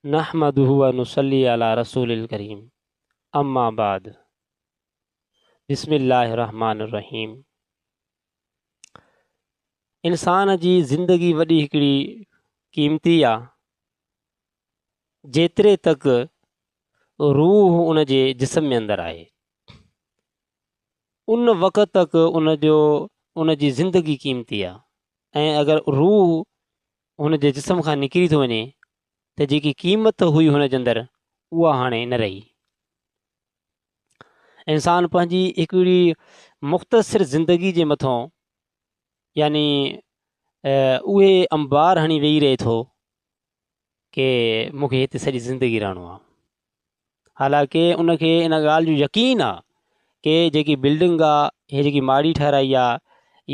نحمده ونصلي علي رسول الکريم اما بعد بسم الله الرحمٰن الرحيم انسان جي زندگي وڏي هڪڙي قيمتي آ جيتري تڪ روح ان جي جسم ۾ اندر آهي ان وقت تڪ ان جو ان جي زندگي قيمتي آ ۽ اگر روح هن جي جسم کان نڪري ٿو وڃي ته جيڪي قيمت هئي هن جي اندر اها هاڻي نه رهي. انسان پنهنجي هڪڙي مختصر زندگي جي مٿان يعني اهي انبار هڻي ويهي رهي ٿو ڪي مون کي هتي سڄي زندگي رهڻو آهي. حالانڪه ان کي ان ڳالهه جو يقين آ ڪي جيڪي بلڊنگ آ هي جيڪي ماڙي ٺهرائي آ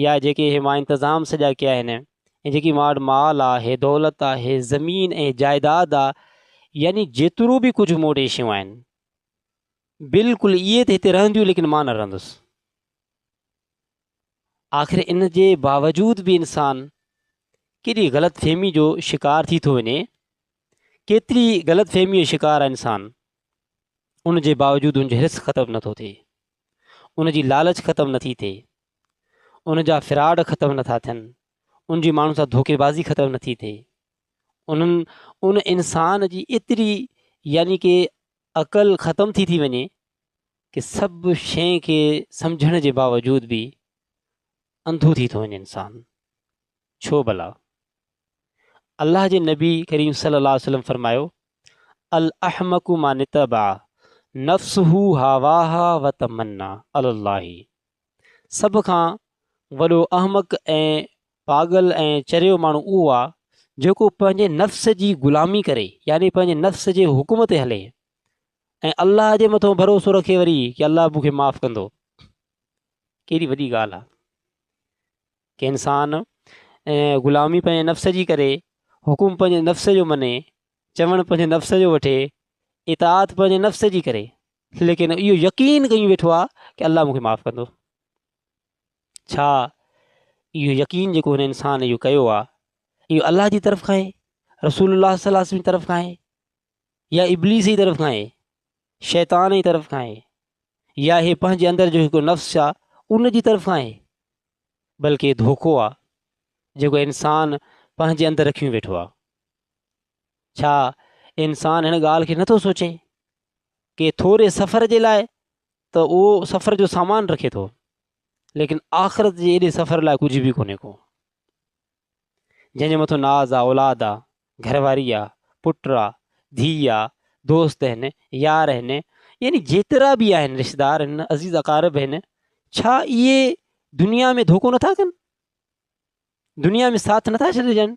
يا جيڪي هي مان انتظام سڄا ڪيا آهن ۽ جيڪي مان وٽ مال آ هي دولت آ هي زمين ۽ جائيداد آ يعني جيترو به ڪجهه مون وٽ هي شيون آهن بلڪل اهي ته هتي رهنديون ليڪن مان نه رهندس آخر ان جي باوجود به انسان ڪيڏي غلط فهمي جو شڪار ٿي ٿو وڃي ڪيتري ئي غلط فهميء جو شڪار آهي انسان، ان جي باوجود ان جو حرص ختم نٿو ٿئي، ان جي لالچ ختم نٿي ٿئي، ان جا فراڊ ختم نٿا ٿين، ان جي ماڻهن سان ڌوڪيبازي ختم نٿي ٿئي، انهن ان انسان جي ايتري يعني ڪي عقل ختم ٿي ٿي وڃي ڪي سڀ شيء کي سمجھڻ جي باوجود به انڌو ٿي ٿو وڃي انسان. ڇو ڀلا؟ الله جي نبي ڪريم صلي الله عليه وسلم فرمايو، الاحمق من اتبع نفسه هواها وتمنّا علي الله، سڀ کان وڏو احمق ۽ پاڳل ۽ چريو ماڻهو اهو آهي جيڪو پنهنجي نفس جي غلامي ڪري يعني پنهنجي نفس جي حڪم تي هلي ۽ الله جي مٿان ڀروسو رکي وري ڪي الله مون کي معاف ڪندو. ڪيڏي وڏي ڳالهه آهي. ڪي انسان غلامي پنهنجي نفس جي ڪري، حڪم پنهنجي نفس جو مڃي، چوڻ پنهنجي نفس جو وٺي، اطاعت پنهنجي نفس جي ڪري، ليڪن اهو يقين ڪيون ويٺو آ ڪي الله مونکي معاف ڪندو. ڇا اهو يقين جيڪو هن انسان اهو ڪيو آ اهو الله جي طرف کان آهي، رسول الله صلي الله عليه وسلم جي طرف کان آهي يا ابليس جي طرف کان آهي، شيطان جي طرف کان آهي يا هي پنهنجي اندر جو هڪ نفس آ ان جي طرف کان آهي. بلڪ اهي ڌوڪو آ جيڪو انسان پنهنجي اندر رکيون ويٺو آ. ڇا انسان هن ڳالهه کي نٿو سوچي ڪي ٿوري سفر جي لاء ته اهو سفر جو سامان رکي ٿو ليڪن آخرت جي ايڏي سفر لاء ڪجهه به ڪونهي ڪو. جنهن جي مٿو ناز آ، اولاد آ، گهر واري آ، پٽ آ، ڌيء آ، دوست هن، يار هن، يعني جيترا به آهن رشتدار هن، عزيز اقارب هن، ڇا اهي دنيا ۾ ڌوڪو نٿا ڪن؟ دنيا ۾ ساٿ نٿا ڇڏجن؟